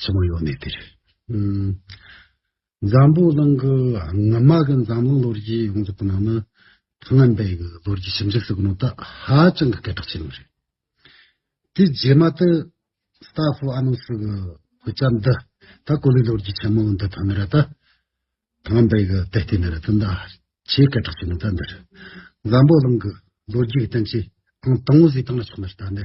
ཆེན་མོ་ཡོད་གནས་དེར། འཛམ་བུ་གླིང་གི་སྔོན་མ་གི་འཛམ་གླིང་ལོ་རྒྱུས་ཡོངས་རྫོགས་ཀྱི་ནང་ན་སྔོན་པའི་གི་ལོ་རྒྱུས་ཞིབ་འཇུག་བྱེད་ནང་དུ་ཧ་ཅང་གི་སྐད་གྲགས་ཆེན་པོ་རེད། དེའི་རྗེས་མ་དུ་སི་ཏཱ་ཧྥུ་ཨ་ནུ་སི་གི་བོད་ཆ་འདི་ད་གོ་ལའི་ལོ་རྒྱུས་ཆེན་མོ་འདི་ཐོན་མི་ར་ད་སྔོན་པའི་གི་དེ་ལྟའི་མི་ར་ད་འདི་ཧ་ཆེས་སྐད་གྲགས་ཆེན་པོ་ད་འདི་རུ་འཛམ་བུ་གླིང་གི་ལོ་རྒྱུས་གི་སྟེང་ཆེས་ཨང་དང་བོ་ཟིག་བཏང་ན་ཆོག་མི་ར་ད་འདི་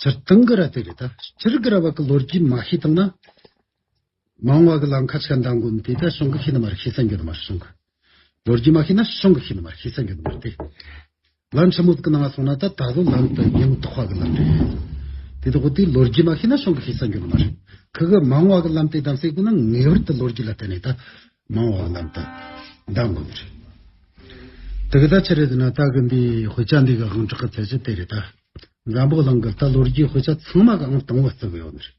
སྤྱིར་བཏང་གི་ར་དེ་རེད་ད། སྤྱིར་གི་ར་བ་གི་ལོ་རྒྱུས་མ་ཤེས་བཏང་ན། མང་བ་གི་ལམ་ཁ་ཆགས་འདང་དགོས་མི་དེ་ད་ཤོང་གི་ཤེས་ནི་མ་རེད་ཤེས་ས་འགྱོ་ནི་མ་རེད་ཤོང་གི། ལོ་རྒྱུས་མ་ཤེས་ན་ཤོང་གི་ཤེས་ནི་མ་རེད་ཤེས་ས་འགྱོ་ནི་མ་རེད་དེ། ལམ་ཆེན་མོ་དག་གི་ནང་ང་སོང་ན་ད་ད་ལོ་ལམ་དུ་ཉིན་མོ་ཐོག་བ་གི་ལམ་རེད། དེ་ལྟ་བུ་དེ་ལོ་རྒྱུས་མ་ཤེས་ན་ཤོང་གི་ཤེས་ས་འགྱོ་ནི་མ་རེད། ཁག་གི་མང་བ་གི་ལམ་དེ་བདམས་སའི་སྒོ་ནི་ངེས་བར་དུ་ལོ་རྒྱུས་ལ་བལྟས་ནས་ད། མང་བ་རྣམས་དང་ཟླ་འགོ་མི་རེད། དེ་ག་ད་ཕྱི་རེད་ན་ད་གི་འདི་དཔེ་ཆ་འདི་གའང་གྲགས་ཀི་ཚད་ཆ་དེ་རེད་ད། འཛམ་བུ་གླིང་གི་ད་ལོ་རྒྱུའི་དཔེ་ཆ་ཚང་མ་གའང་དང་བ་བརྩི་གི་ཡོད་ནི་རེད།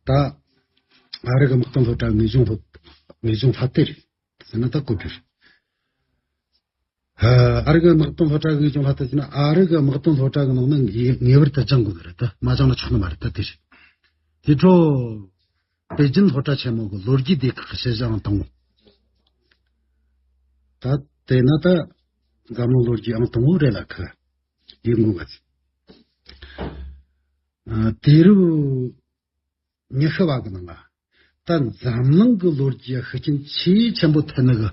ད་ཨ་རི་གི་དམག་དོན་སློབ་གྲྭ་ངེས་འབྱུང་སློབ་ངེས་འབྱུང་ལྷ་དེ་རེད་ཟེར་ན་ད་གོ་རྒྱུ་རེད། ཨ་རིག་དམག་དོན་སློབ་གྲྭ་གིས་ཀྱང་ལྷག་ཏུ་བྱས་ན་ཨ་རིག་དམག་དོན་སློབ་གྲྭ་གི་ནང་ནས་ངེས་པར་དུ་སྦྱང་དགོས་པ་རེད་དོ། མ་སྦྱང་ན་ཆོག་ནི་མ་རེད་དོ་དེ་རེད། དེའི་འཕྲོར། པེ་ཅིན་སློབ་གྲྭ་ཆེན་མོ་གི་ལོ་རྒྱུས་སྡེ་ཁག་གི་ཤེས་བྱའང་དང་པོ། ད་དེ་ན་ད། འཛམ་གླིང་ལོ་རྒྱུས་ཨང་དང་པོ་རེད་ལ་ཁ། ཡིག་ངོ་བ། དེ་རུ། ཉི་ཤུ་བ་གི་ནང་ལ་ད་འཛམ་གླིང་གི་ལོ་རྒྱུས་ཤུགས་རྐྱེན་ཆེས་ཆེན་པོ་ཐེབས་ནི་གི་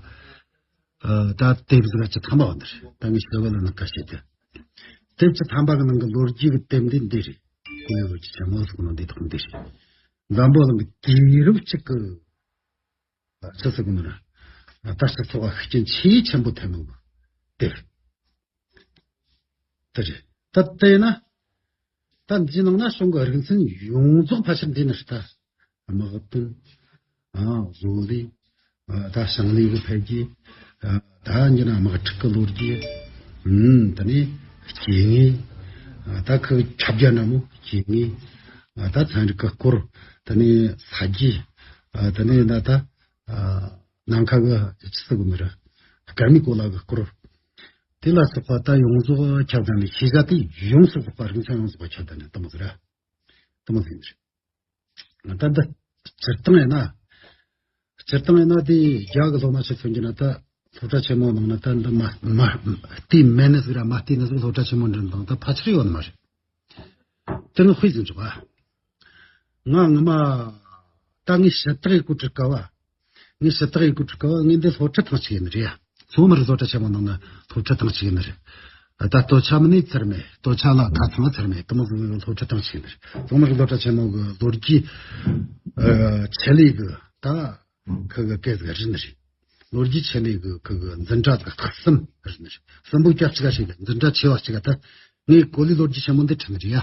ད་དེབ་གཟི་ཀ་ཆི་ཐམ་པ་བ་འདི་རེད་ད་ངས་ཤོད་གི་ལ་ནི་ག་ཤེད་དེ་དེབ་ཆི་ཐམ་པ་གི་ནང་གི་ལོ་རྒྱུས་གི་དེབ་འདི་འདི་རེད་ཀུ་ཡོ་ལོ་རྒྱུས་ཆེན་མོ་ཟེར་གི་ནང་འདི་ཐོག་འདི་རེད་འཛམ་བུ་གླིང་གི་དུས་རབས་གཅིག་གི། ཚེ་སྲོག་གི་ནང་ནས་ད་ལྟ་ཚོར་བ་ཤུགས་རྐྱེན་ཆེས་ཆེན་པོ་ཐེབས་གནང་བ་དེ་རེད། ད་ལྟའི་ན་ད་འདིའི་ནང་ན་གཞུང་གི་རིག་འཛིན་ཡོངས་རྫོགས་ཕལ་ཆེར་འདི་ནས་ད་དམག་དོན། བཟོ་ལས། ད་ཞིང་ལས་ཀྱི་འཕེལ་རྒྱས། ད་འདི་ན་དམག་འཁྲུག་གི་ལོ་རྒྱུས་འདི་ནི་སྐྱེ་ངེས་ད་ཁག་ཁྱབ་རྒྱ་ན་མོ་སྐྱེ་ངེས་ད་ཚན་རིག་གི་སྐོར་འདི་ནི་ས་རྒྱས་འདི་ནི་ད་ད་ནམ་མཁའ་གི་ཇི་སྲིད་གི་མི་རུ་སྐལ་མེད་གོ་ལ་གི་སྐོར་དེ་ལ་སོགས་པ་ད་ཡོངས་རྫོགས་ཁྱབ་བདག་ནི་ཤེས་བྱ་དེ་ཡོངས་སུ་རྫོགས་པ་རིང་ཆ་ཡོངས་རྫོགས་པ་ཁྱབ་བདག་ནི་གཏི་མུག་རེད་གཏི་མུག་ཡིན་རེད། ད་ལྟ་སྤྱིར་བཏང་ཡིན་ན། སྤྱིར་བཏང་ཡིན་ན་དེ་རྒྱ་གི་སློབ་མ་ཞིག་ཐོན་རྒྱུ་ན་ད་སློབ་གྲྭ་ཆེན་མོ་ནང་ན་ད་འདི་མ་མ་དེ་མན་ནས་ཟིག་ར་མ་དེ་ནས་ཟིག་སློབ་གྲྭ་ཆེན་མོ་འགྲིམས་དང་ད་ཕ་ཆེར་ཡོད་ནི་མ་རེད། དེ་ནི་དཔེ་ཟིན་ཆོག་ག། ང་ངོ་མ་ད་ངས་ཞིབ་ཕྲ་ཡིག་སྐུར་བྲི་དཀའ་བ། ངས་ཞུ་དག་ཡོད་དགུ་ཕྲུག་གི་བར་ངས་འདི་སློབ་ཁྲིད་སྟངས་གཅིག་ཡིན་ནི་རེད་ཡ། མཚོ་མར་བཟོ་གྲ་ཆེན་མོ་ནང་ན་སློབ་ཁྲིད་སྟངས་གཅིག་ཡིན་ནི་རེད། ད་ལྟོ་ཆ་མི་ནས་ཚར་མེད་ལྟོ་ཆ་ལ་ད་ཚང་ཚར་མེད་དུ་མ་བཟོ་བའི་སློབ་ཁྲིད་སྟངས་གཅིག་ཡིན་ནི་རེད། མཚོ་མར་བཟོ་གྲ་ཆེན་མོ་གི་ལོ་རྒྱུས་ཆེད་ལས་གི་དག་གི་གི་གས་ག་རི་ནི་རེད། ལོ་རྒྱུས་ཆེད་ལས་གི་གི་གི་འཛིན་གྲ་གི་ཐག་སིམ་རི་ནི་རེད། སིམ་པོ་སྐྱ་གཅིག་ག་ཞིག་ལས་འཛིན་གྲ་ཆེ་བ་གཅིག་ག་ད་ངས་གོ་ལའི་ལོ་རྒྱུས་ཆེན་མོ་འདི་ཁྲིད་ནི་རེད་ཡ།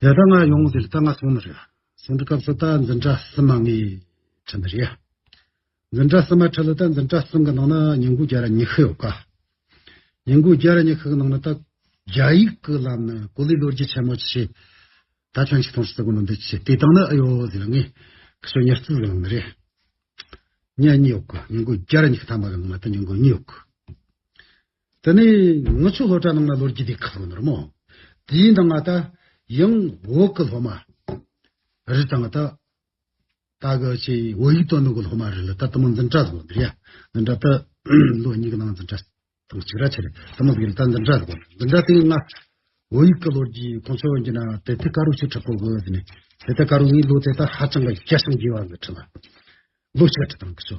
དེ་ལྟར་ང་ཡོང་ཟེར་ལྟ་ང་སོང་ན་རེད། སོང་འདྲི་སྐབས་སུ་ལྟ་འཛིན་གྲྭ་གསུམ་མ་ངས་ཁྲིད་ན་རེད། འཛིན་གྲྭ་གསུམ་མ་ཁྲིད་ལ་ལྟ་འཛིན་གྲྭ་གསུམ་གི་ནང་ན་ཉིན་གུང་བརྒྱ་ར་ཉི་ཤུ་ཡོད་ཀ། ཉིན་གུང་བརྒྱ་ར་ཉི་ཤུ་གི་ནང་ན་ལྟ། རྒྱ་ཡིག་གི་ལམ་ནས་གོ་ལའི་ལོ་རྒྱུས་ཆེན་མོ་ཆེ། ད་ཁྱོད་ཆིག་སྟོང་ཞིག་བརྩི་དགོས་ན་འདི་ཆེ་དེ་བཏང་ན་ཨེ་ཡོད་ཟེར་ལ་ངས། ཁྱོད་ཉེར་བརྩིས་ཟེར་ལབ་ན་རེད། ཉེར་གཉིས་ཡོད་ཀ་ཉིན་གུང་བརྒྱ་ར་ཉི་ཤུ་ཐ་མ་གི་ནང་ན་ལྟ་ཉིན་གུང་གཉིས་ཡོད་ཀ། དེ་ནས་ངུ་ཆོས་སློབ་གྲྭ་ནང་ལ་ལོ་རྒྱུས་དེ་གང་ནོར་མོ། དེའི་ནང་ང་ད་ཡང་འོག་གི་སློབ་མ་རི་དང་ད་ད་གི་ཆེ་འོག་ཡིག་ཐོག་ནང་གི་སློབ་མ་རི་ལ་ད་དུ་མ་འཛིན་གྲྭ་ཟེར་བ་འདི་རེད་ཡ། འཛིན་གྲྭ་ད་ལོ་གཉིས་ཀྱི་ནང་འཛིན་གྲྭ་དང་གཅིག་ར་ཆེ་རེད་དུ་མ་ཟེར་གི་ད་འཛིན་གྲྭ་ཟེར་བ་འཛིན་གྲྭ་དེ་ང་འོག་ཡིག་གི་ལོ་རྒྱུས་ཁོང་ཚོ་འགྱིན་ན་དེ་ཐད་ཀ་རུ་ཆུ་ཁྲག་པོ་གི་ཟེར་ནས་དེ་ཐད་ཀ་རུ་ངའི་ལོ་དེ་ད་ཧ་ཅང་གི་སྐྱ་ཞིང་རྒྱས་བ་གི་ཁྲི་ལ་ལོ་བྱེ་བ་ཁྲི་དང་གི་ཆོ།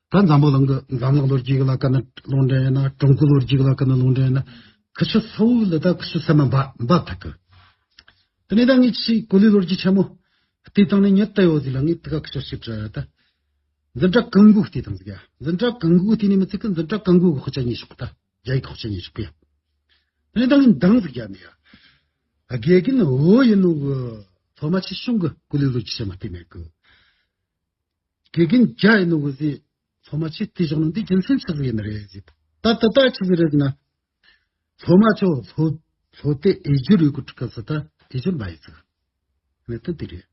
ད་འཛམ་བུ་གླིང་གི་འཛམ་གླིང་ལོ་རྒྱུས་ལ་དཀར་ནག་ལུང་འདྲེན་ཡིན་ན་ཀྲུང་གོའི་ལོ་རྒྱུས་ལ་དཀར་ནག་ལུང་འདྲེན་ཡིན་ན་ཁུ་བྱུག་ཚ་བོ་ལ་ད་ཁུ་བྱུག་ཚ་མ་འབབ་ཐག་གི། དེ་ནས་ད་ངས་ཅི་ཞིག་གོ་ལའི་ལོ་རྒྱུས་ཆེན་མོ་བལྟས་སྟངས་ནི་ཉི་ལྟ་ཡོད་ཟིག་ལ་ངས་དེ་ག་ཁུ་བྱུག་ཞིག་བྲིས་ཨ་ད། འཛིན་གྲྭ་གང་དགོས་བལྟས་སྟངས་ཟིག་ཡ། འཛིན་གྲྭ་གང་དགོས་བལྟས་ནས་མི་ཚིག་གི་འཛིན་གྲྭ་གང་དགོས་ཀྱི་ཁོ་ཅག་ཉན་ཤོག་ད་རྒྱ་ཡིག་ཁོ་ཅག་ཉན་ཤོག་གི་ཡ། དེ་ནས་ད་ངས་འདང་ཟིག་བརྒྱབ་ནས་ཡ། དགེ་རྒན་འོ་ཡིན་ནོ་གི། ཐོག་མ་ཆེ་ཆུང་གི་གོ་ལའི་ལོ་རྒྱུས་ཆེན་མོ་བལྟས་མེད་གི། དགེ་རྒན་བརྒྱ་ཡིན་ནོ་འོད་ཟེར། ཚོགས་མ་ཆེ་དེ་ཞོག་ནོ་འདི་རྒྱུ་མཚན་ཆགས་ཟིག་ཡིན་ནི་རེད། ད་ད་ད་ཆི་ཟིག་རེད་ན། ཚོགས་མ་ཆོ་ལྷོ། ལྷོ་དེ་ཨེ་འགྱུར་ཡོད་གི་ཁྲུ་ཁ་ཟི་ད་ཨེ་འགྱུར་མ་ཡིན་ཟིག། གནད་དོན་དེ་རེད།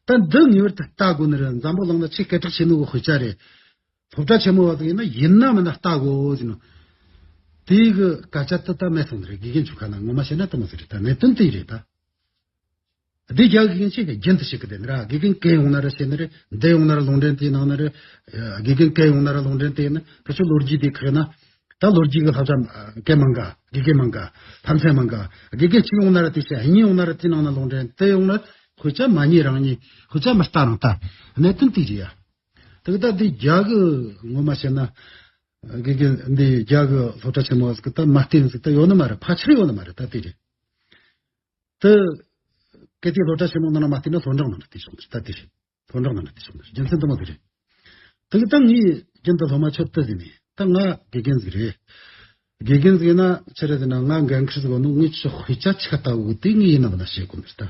ད་འདི་ངེས་པར་དུ་ལྟ་དགོས་ནི་རེད་འཛམ་བུ་གླིང་ན་ཆེས་སྐད་གྲགས་ཆེ་ནི་བོ་ཧུ་ཅཱ་རེད། སློབ་གྲྭ་ཆེན་མོ་བ་ཟིག་ཡིན་ན་ཡིན་ན་མིན་ན་ལྟ་དགོས་འོ་ཟིག་ནོ། དེ་གི་སྐད་ཆ་དེ་ད་སྨྲས་སོང་ནི་རེད་དགེ་རྒན་ཆུ་ཁ་ན་ངོ་མ་བཤད་ན་དེ་མ་ཟིག་རེད་ད་གནད་དོན་དེ་རེད་ད། འདི་རྒྱ་དགེ་རྒན་ཞིག་གི་རྒྱན་དུ་ཞིག་གི་དེ་ནས་ར་དགེ་རྒན་སྐལ་ཡོང་ན་ར་བྱས་ན་ར་འདི་ཡོང་ན་ར་ལུང་འདྲེན་དེ་ནང་ན་ར་དགེ་རྒན་སྐལ་ཡོང་ན་ར་ལུང་འདྲེན་དེ་ནི་ཕལ་ཆེར་ལོ་རྒྱུས་དེ་ཁོས་ན་ད་ལོ་རྒྱུས་ཀྱི་ལྷ་བྱ་སྐལ་མང་ག་དགེ་རྒན་མང་ག་ལྷ་མཚན་མང་ག་དགེ་རྒན་གཅིག་ཡོང་ན་ར་དེ་བྱས་གཉིས་ཡོང་ན་ར་དེ་ནང་ན་ལུང་འདྲེན་དེ་ཡོང་ན་ཁོས་ཅག་མ་གཉིས་རང་གཉིས་ཁོས་ཅག་མི་ལྟ་རང་ལྟ་གནད་དོན་དེ་རེད་ཡ། ཐུགས་ད་འདི་རྒྱ་གི་ངོ་མ་བྱས་ན་དགེ་རྒན་འདི་རྒྱ་གི་སློབ་གྲྭ་ཆེན་མོ་ཟིག་ད་མ་བསྟེན་ཟིག་ད་ཡོད་ནི་མ་རེད་ཕལ་ཆེར་ཡོད་ནི་མ་རེད་ད་དེ་རེད། དེ་གལ་ཏེ་སློབ་གྲྭ་ཆེན་མོ་ནང་ན་མ་བསྟེན་ན་ལྷོ་འབྲོག་ནང་ན་བསྟེན་ཆོག་མི་སྲིད་ད་དེ་བཞིན་ལྷོ་འབྲོག་ནང་ན་བསྟེན་ཆོག་མི་སྲིད་རྒྱུ་མཚན་དུ་མ་དེ་རེད། དེ་གི་ད་ངའི་རྒྱུན་ད་ལྷོ་མ་ཆོས་བསྟོད་ཟིན་ནས་ད་ང་དགེ་རྒན་ཟིག་རེད། དགེ་རྒན་ཟིག་ཡིན་ན་ཆེ་རེད་ཟེར་ན་ང་འགན་ཁུར་ཟིག་བ་ནུ་ངའི་ཆོས་དཔེ་ཆ་ཆ་ལྟ་བུ་དེ་ངའི་ཡིན་ནམ་མིན་ན་ཤེས་དགོས་མི་རེད་ད།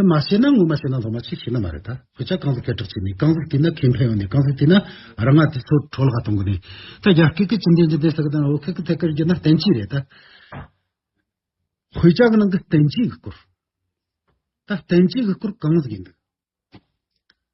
དེ་མ་བྱས་ན་ངོ་མ་བྱས་ན་ལྷོ་མ་ཆེ་ཤེས་ན་མ་རེད་ད། ཁོ་ཅག་རྐང་ཟིག་སྐད་གྲགས་ཆེ་ནས་རྐང་ཟིག་བསྟེན་ན་ཁེ་ཕན་ཡོང་ནས་རྐང་ཟིག་བསྟེན་ན་ར་ང་དེ་ཚོ་གྲོ་ལ་ཧ་གཏོང་གི་ནས། ད་རྒྱ་སྐད་ཀྱི་ཅི་འདེན་ཅི་འདེན་ཟེར་གི་དང་ཨོ་ཁེ་ཀི་ཐེ་ཀིར་བསྒྱུར་ན་བསྟན་ཅི་རེད་ད། ཁོ་ཅག་གི་ནང་གི་བསྟན་ཅི་གི་སྐོར། ད་བསྟན་ཅི་གི་སྐོར་རྐང་ཟིག་ཡིན་འདུག།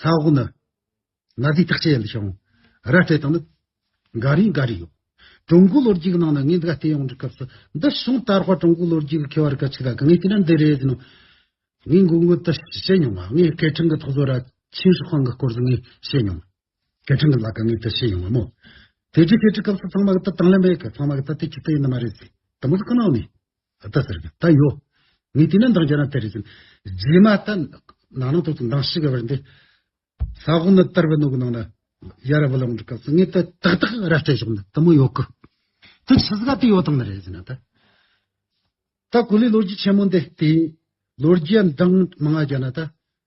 ས་འོག་ནི། གནའ་རྫས་བརྟག་དཔྱད་ཡན་དུ་བྱུང། ར་སྤྲེལ་དང་ནི། འགའ་རེའི་འགའ་རེ་ཡོད། ཀྲུང་གོའི་ལོ་རྒྱུས་ཀྱི་ནང་ན་ངས་འདི་ག་བལྟས་ཡོང་འདྲི་སྐབས་སུ་འདི་བྱུང་དར་བར་ཀྲུང་གོའི་ལོ་རྒྱུས་ཀྱི་ཁེ་བ་རི་ག་ཅིག་ལ་ག་ངས་དེ་འདྲ་འདི་རེད་ཟེར་ནོ། ངས་མགོ་སྔུར་དུ་བྱེད་མྱོང་བ་ངས་སྐད་འཕྲིན་གྱི་ཐོག་བཟོ་ར་ཆེན་ཧྲི་ཧྥང་གི་སྐོར་ཟུར་ངས་བཤད་མྱོང། སྐད་འཕྲིན་གྱི་ལ་ག་ངས་དེ་བཤད་མྱོང་བ་མོད། དེ་རྗེས་སྐད་འཕྲིན་སྐབས་སུ་ཚང་མ་གི་དེ་དང་ལེན་པས་གི་ཚང་མ་གི་ད་དེ་ཅིག་ཏུ་ཡིན་ནི་མ་རེད་ཟེར། དེ་མ་ཟད་ཀི་ནང་ནས། ད་ལྟ་ཟེར་གི་ད་ཡོད། ངས་དེ་ནས་འདང་བྱས་ན་དེ་རེད་ཟེར། རྗེས་མ་ད་ནང་ནང་དུ་འདང་བྱེད་དགོས་པ་རེད། ས་ཧོ་ནི་དར་བུ་ནང་གི་ནང་ལ་ཡར་ར་བུ་ལ་འགྲོ་སྐབས་སུ་ངས་ད་ཏག་ཏག་ར་སྤྲད་ཆོག་ན་ད་མོ་ཡོད་གི། དེ་ཆི་ཟིག་ག་དེ་ཡོད་དང་ནི་རེད་ཟེར་ན་ད། ད་གོ་ལའི་ལོ་རྒྱུས་ཆེན་མོ་འདི་དེ་ཡིན། ལོ་རྒྱུས་འདང་མང་བྱས་ན་ད།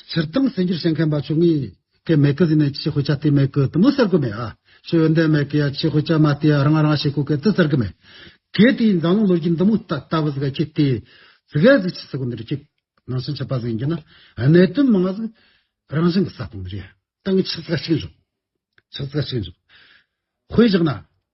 སྤྱིར་བཏང་གསལ་འགྱུར་བཤད་མཁན་པ་བཅུ་གཉིས་ཀའི་མེ་ཀི་ཟིན་ནས་ཆེས་དཔེ་ཆ་དེའི་མེ་ཀི་དུ་མོ་གསར་དགོས་མེད་ཨ། ཆོས་ཡོན་ཏན་མེ་ཀི་ཡ་ཆེས་དཔེ་ཆ་མ་དེ་ཡ་རང་རང་ཞིག་གོ་གལ་ཏེ་གསར་གི་མེ་ཀི་དེའི་མཛངས་ལུང་ལོ་རྒྱུས་འདི་མུ་ལྟ་ལྟ་བུ་ཟིག་ག་ཁྱེད་དེའི་ཟིག་ག་ཟིག་ཆེས་ཟིག་གོ་འདི་རུ་ཁྱེད་ནང་བཞིན་ཆེས་པ་ཟིག་ཡིན་རྒྱུ་ན་གནད་དོན་མི་ང་ཟིག་རང་བཞིན་གྱི་ས་སྟེང་འདི་རུ་ཡ་ཏང་གི་ཆེས་ཟིག་ག་ཆིག་འཇོག་ཆེས་ཟིག་ག་ཆིག་འཇོག་དཔེ་བཞག་ན་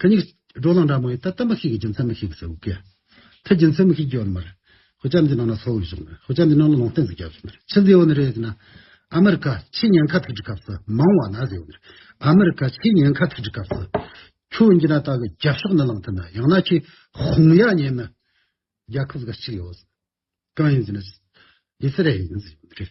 ཁ་སྙིགས། སྒྲོ་ལངས་འདྲ་མང་ཡོད་ད་ལྟ་མི་ཤིག་གི་རྒྱུ་མཚན་མི་ཤིག་གིས་ཟེར། ཁ་རྒྱུ་མཚན་མི་ཤིག་རྒྱུ་ཡོད་མར། ཧོ་ལྕགས་འདི་ནང་ན་ཚོགས་ཡོད་ཤོག། ཧོ་ལྕགས་འདི་ནང་ལ་ལོང་སྟེང་ཟིག་རྒྱབ་ཤོག། ཕྱི་འདི་ཡོད་ན་རེད་ཟེར་ན། ཨ་མེ་རི་ཁ་ཕྱི་ཉེན་ཁ་ཐུག་འགྲིག་སྐབས་སུ་མང་བ་ན་ཟེར། ཨ་མེ་རི་ཁ་ཕྱི་ཉེན་ཁ་ཐུག་འགྲིག་སྐབས་སུ། ཁྱོད་འདི་ན་ད་གི་རྒྱབ་ཤོག་ནི་ལངས་ཐུབ་ན་ཡང་ན་ཁྱོས་ཧོང་ཡ་ཉན་ནི། རྒྱལ་ཁབ་ཟིག་ག་གཅིག་ཡོད། གང་ཡིན་ཟེར་ན། ཨི་སི་རལ་ཡིན་ཟེར།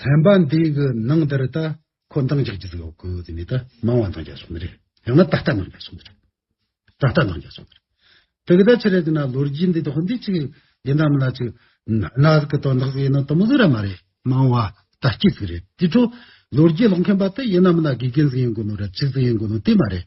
ཚན་པ་འདིའི་གི་ནང་དེར་ད་ཁོ་མདང་རྒྱག་རྒྱུ་ཟེར་གི་དེ་ནས་ད་མང་བ་མདང་རྒྱག་སོང་རེད་ཡང་ན་ད་ལྟ་མདང་རྒྱག་སོང་རེད་ད་ལྟ་མདང་རྒྱག་སོང་རེད་དེ་གི་ད་ཕྱི་རེ་དེ་ན་ལོ་རྒྱུས་འདི་དོག་འདི་ཅིག་འདི་འདྲ་མི་ལ་ཅིག་ན་གི་དོན་དག་ཡིན་ན་དུ་མི་ཟེར་ར་མ་རེད་མང་བ་ད་སྐྱིད་ཟིག་རེད་དེ་འཕྲོ་ལོ་རྒྱུས་ལོག་མཁན་པ་དེ་ཡིན་ན་མི་ན་དགེ་རྒན་ཟིག་ཡིན་དགོས་ནོ་ར་ཅིག་ཟིག་ཡིན་དགོས་ནོ་དེ་མ་རེད་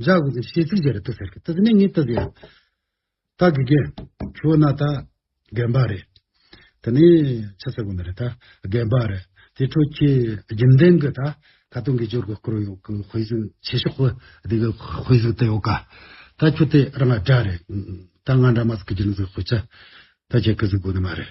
འཇའ་འོད་ཀྱི་ཤེལ་ཚིག་ཅེས་རེ་ལྟོས་ཟེར་གི་ད་དེ་ནས་ངས་ལྟོས་ཟེར། ད་དགེ་རྒན། ཁྱོད་ན་ད། རྒན་པ་རེད། ད་ནི། ཆ་ཚ་གོ་ན་རེད་ད། རྒན་པ་རེད། དེ་འཕྲོ་ཁྱེད། རྒྱུན་ལྡན་གི་ད། ད་དུང་གི་ཅོར་གི་སྐོར་ཡོད་གི་དཔེ་གཟིགས་ཆེ་ཤོག་གི། དེ་གི་དཔེ་གཟིགས་ད་ཡོད་ག། ད་ཁྱོད་དེ་རང་ག་འདྲ་རེད། ད་ང་འདྲ་མ་ཟིག་གི་རྒྱུན་གཟིགས་དཔེ་ཆ། ད་ཁྱེད་གི་གཟིགས་དགོས་ནི་མ་རེད།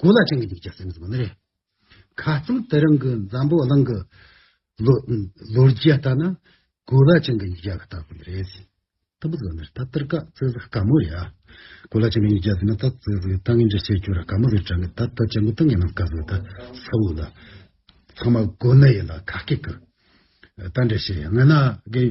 གོ་ལ་ཅན་གྱི་ཡིག་ཆ་སེམས་སུ་མི་རེད། ཁ་ཙམ་དེ་རིང་གི་འཛམ་བུ་གླིང་གི་ལོ་རྒྱུས་ལྟར་ན་གོ་ལ་ཅན་གྱི་ཡིག་ཆ་ལ་ལྟ་དགོས་ནི་རེད། སྟབས་བུ་ཟོ་ནི་རེད་ད་ཏིར་ཀ་བཙལ་ཟིག་དཀའ་མོ་རེད་ཨ། གོ་ལ་ཅན་གྱི་ཡིག་ཆ་ཟེར་ན་ད་བཙལ་ཟིག་ད་ངས་འདྲི་བཤད་བྱོས་ར་དཀའ་མོ་ཟིག་དྲན་གི་ད་ད་ཅན་གོ་ཏི་ངས་ནམ་དཀའ་ཟིག་ད་ཚ་བོ་ལ་ཚང་མ་གོ་ནི་ཡིན་ལ་ཁ་སྐད་ཀི་ད་འདྲི་བཤད་ཡང་ངན་ན་དགེ།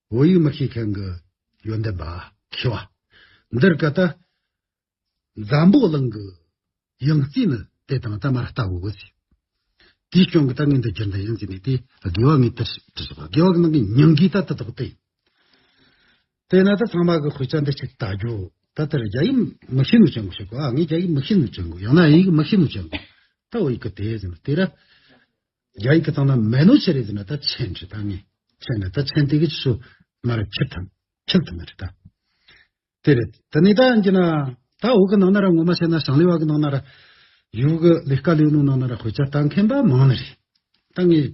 བོད་ཡིག་མི་ཤེས་མཁན་གྱི་ཡོན་ཏན་པ་མཁས་པ། འདིར་གལ་ཏེ། འཛམ་བུ་གླིང་གི་ཡང་རྩེ་ནི་དེ་དང་རྩ་མར་ལྟ་བུ་འོད་ཟེར། དེའི་སྐྱོན་གྱི་ལྟ་ངན་འདི་སྦྱར་ན་ཡང་རྩེ་ནས་དེ་དགེ་བ་ངས་དེར་དྲི་ཞིག་དགེ་བ་གི་ནང་གི་སྙིང་གའི་ལྟ་དེ་དག་སྟེ། དེས་ན་ད་ཚང་མ་གི་ཁོའི་སྐྱོན་འདི་ཞིག་བལྟ་རྒྱུ། ད་དེར་རྒྱ་ཡིག་མི་ཤེས་ནུས་ཅན་གྱི་ཞིག་གོ་ཨ་ངས་རྒྱ་ཡིག་མི་ཤེས་ནུས་ཅན་གྱི་ཡང་ན་ཨིན་ཡིག་མི་ཤེས་ནུས་ཅན་གྱི་ད་འོ་ཡིག་གི་དེ་ཟེར་ན་དེ་ར། རྒྱ་ཡིག་གི་སྟེང་ན་མེ་ནོ་ཆེ་རེད་ཟེར་ན་ད་ཆེན་རེད་ད་ངས་ཆེན་ན་ད་ཆེན་དེ་གི་ཆུ་ང་ར་འཁྱིལ་ཐུབ་འཁྱིལ་ཐུབ་མ་རེད་ད། དེ་རེད་ད་ནི་ད་ཀྱི་ན་ད་འོག་གི་ནང་ན་ར་ངོ་མ་བཤད་ན་ཞང་ལི་བ་གི་ནང་ན་ར་ཡུའུ་གི་ལི་ཀ་ལིའུ་ནུའུ་ནང་ན་ར་ཧོས་ཅ་ལྟ་མཁན་པ་མང་ན་རེད་ད་ངས།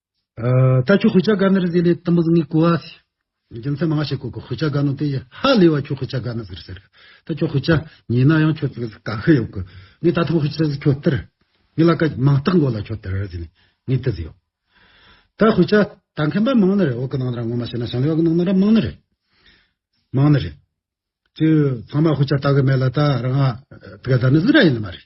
ད་ཁྱོད་ཧུ་ཅག་ག་ནར་ཟེར་ལས་དམ་བུ་ངའི་གོ་བ། རྒྱུ་མཚན་མང་ཞིག་གོ་གི་ཧུ་ཅག་ག་ནོ་དེ་ཡི་ཧ་ལས་བ་ཁྱོད་ཧུ་ཅག་ག་ནི་ཟེར་ཟེར་གི། ད་ཁྱོད་ཧུ་ཅག་ཉིད་ན་ཡང་ཁྱོད་ཀྱི་ག་ཧི་ཡོད་གི། ངས་ད་ཐུང་ཧུ་ཅག་ཟིག་ཁྱོད་སྟེར། ངས་ལ་ཀ་མང་སྟག་མགོ་ལ་ཁྱོད་སྟེར་ཟེར་ནས་ངས་དེ་ཟིག་ཡོད། ད་ཧུ་ཅག་ད་མཁན་པ་མང་ནི་རེད་འོག་གི་ནང་ན་ར་ངོ་མ་བྱས་ན་ཞང་ལས་འོག་གི་ནང་ན་ར་མང་ནི་རེད། མང་ནི་རེད། ཅེས་ཚང་མ་ཧུ་ཅག་ད་གི་མེད་ལ་ད་རང་ཨ་ད་ག་ད་ནི་ཟིག་ར་ཡིན་ནི་མ་རེད།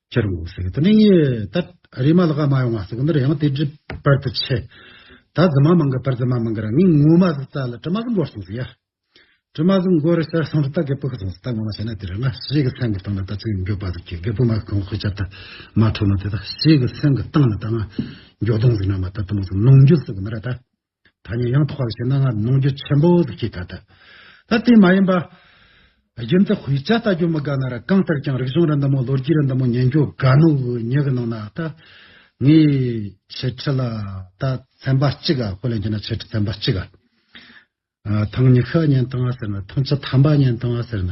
ཁྱེར་རོ་ཟེར་གི་དེ་ནས་ངས་ད་རེས་མ་ལ་ཀ་མ་ཡོང་བ་ཟེར་གི་འདི་རེ་ཡང་དེ་བྲིས་པར་དུ་ཆེ། ད་རྫི་མ་མང་གི་པར་རྫི་མ་མང་གི་ར་ངའི་ངོ་མ་ཟི་ཙ་ལ་དྲི་མ་ཟི་འགོ་སོང་ཟེར་ཡ། དྲི་མ་ཟི་འགོ་རི་ཤར་སོང་རི་ད་གད་པུག་སོང་ཟི་ད་ངོ་མ་བྱས་ན་དེ་རེ་ང་ཤེས་གི་སེམས་གི་སྟེང་ལ་ད་ཚིག་འགྱོད་པ་ཟི་ཁྱི་གད་པུག་མ་གང་ཤི་ཆ་ད་མ་འཕྲོ་ན་དེ་ད་ཤེས་གི་སེམས་གི་སྟེང་ལ་ད་ང་འགྱོད་གདུང་ཟི་ན་མ་ད་དུ་མ་ཟི་ནོངས་འགྱོད་ཟི་གི་མི་ར་ད། ཐ་སྙད་ཡང་དག་པར་བྱས་ན་སྔར་གནོང་འགྱོད་ཆེན་པོ་དུ་སྐྱེས་ད་ལྟ། ད་དེ་མ་ཡིན་པ། རྒྱུ་མཚན་ཧུའི་ཅཱ་ལྟ་རྒྱུ་མི་དགའ་ན་ར་གང་ལྟར་ཀྱང་རིག་གཞུང་ར་འདི་མོ་ལོ་རྒྱུས་ར་འདི་མོ་ཉན་རྒྱུ་དགའ་ནུ་ཧུའི་ཉེ་གི་ནང་ན་ད། ངའི་ཆེ་ཁྲི་ལ་ད་ཚན་པ་གཅིག་ག་ཧུ་ལན་གྱི་ན་ཆེ་ཁྲི་ཚན་པ་གཅིག་ག། ཐང་ཉི་ཤ་ཉན་ཐང་ང་ཟེར་ན་ཐང་ཅི་ཐམ་པ་ཉན་ཐང་ང་ཟེར་ན།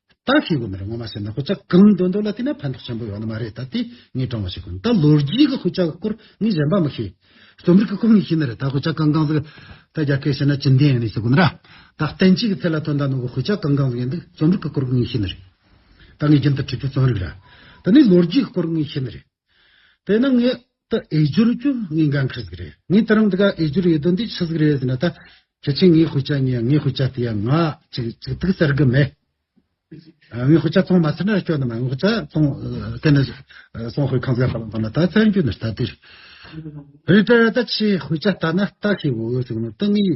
བདག་གིས་དགོས་མེད་རེད་ངོ་མ་བཤད་ན་ཁོ་ཅག་གང་འདོད་འདོད་ལ་བལྟས་ན་ཕན་ཐོགས་ཆེན་པོ་ཡོད་ནི་མ་རེད་ད་ལྟའི་ངས་བགྲང་བ་ཞིག་གོ་ད་ལོ་རྒྱུས་ཀྱི་ཁོ་ཅག་གི་སྐོར་ངས་གཞན་པ་མི་ཤེས། རྩོམ་རིག་གི་སྐོར་ངས་ཤེས་ནི་རེད་ད་ཁོ་ཅག་གང་གང་ཟིག་ད་རྒྱ་སྐད་བཤད་ན་ཅི་འདི་ཡིན་ནི་ཞིག་གོ་འདྲ་ད་བསྟན་བྱའི་གི་ཚད་ལ་ཐོན་ད་ནང་གི་ཁོ་ཅག་གང་གང་ཟིག་ཡིན་འདུག་རྩོམ་རིག་གི་སྐོར་ངས་ཤེས་ནི་རེད་ད་ངས་རྒྱུན་དུ་བྲིས་པའི་རྩོམ་རིག་ར་ད་ནི་ལོ་རྒྱུས་ཀྱི་སྐོར་ངས་ཤེས་ནི་རེད། དེ་ནི་ངས་ད་ཨེ་བསྒྱུར་རྒྱུ་ངས་འགན་འཁུར་ཟིག་རེད། ངས་ད་རུང་འདི་ག་ཨེ་བསྒྱུར་ཡོད་དོན་འདི་ཤི་ཟིག་རེད་ཟེར་ན་ད་ཁྱེད་ཀྱིས་ངའི་ཤུགས་ཆ་ཉོས་ངའི་ཤུགས་ཆ་དེ་ཡང་ང་གཅིག་གཅིག་ཐུག་ཟེར་གི་མེད། ངའི་ཤུགས་ཆ་ཐོངས་མ་ཟེར་ན་སྐྱོ་ནི་མ་ངའི་ཤུགས་ཆ་ཐོངས་དེ་ནི་སོང་ཤོས་ཁང་བཟའ་ཧ་ལམ་ཐོངས་ན་ད་བཙན་བྱོལ་ནས་ད་དེ་རེད། རེད་དྲ་ད་ཁྱིའི་ཤུགས་ཆ་ལྟ་ན་ད་ཤི་འོས་འོས་ཟིག་ནི་ད་ངའི།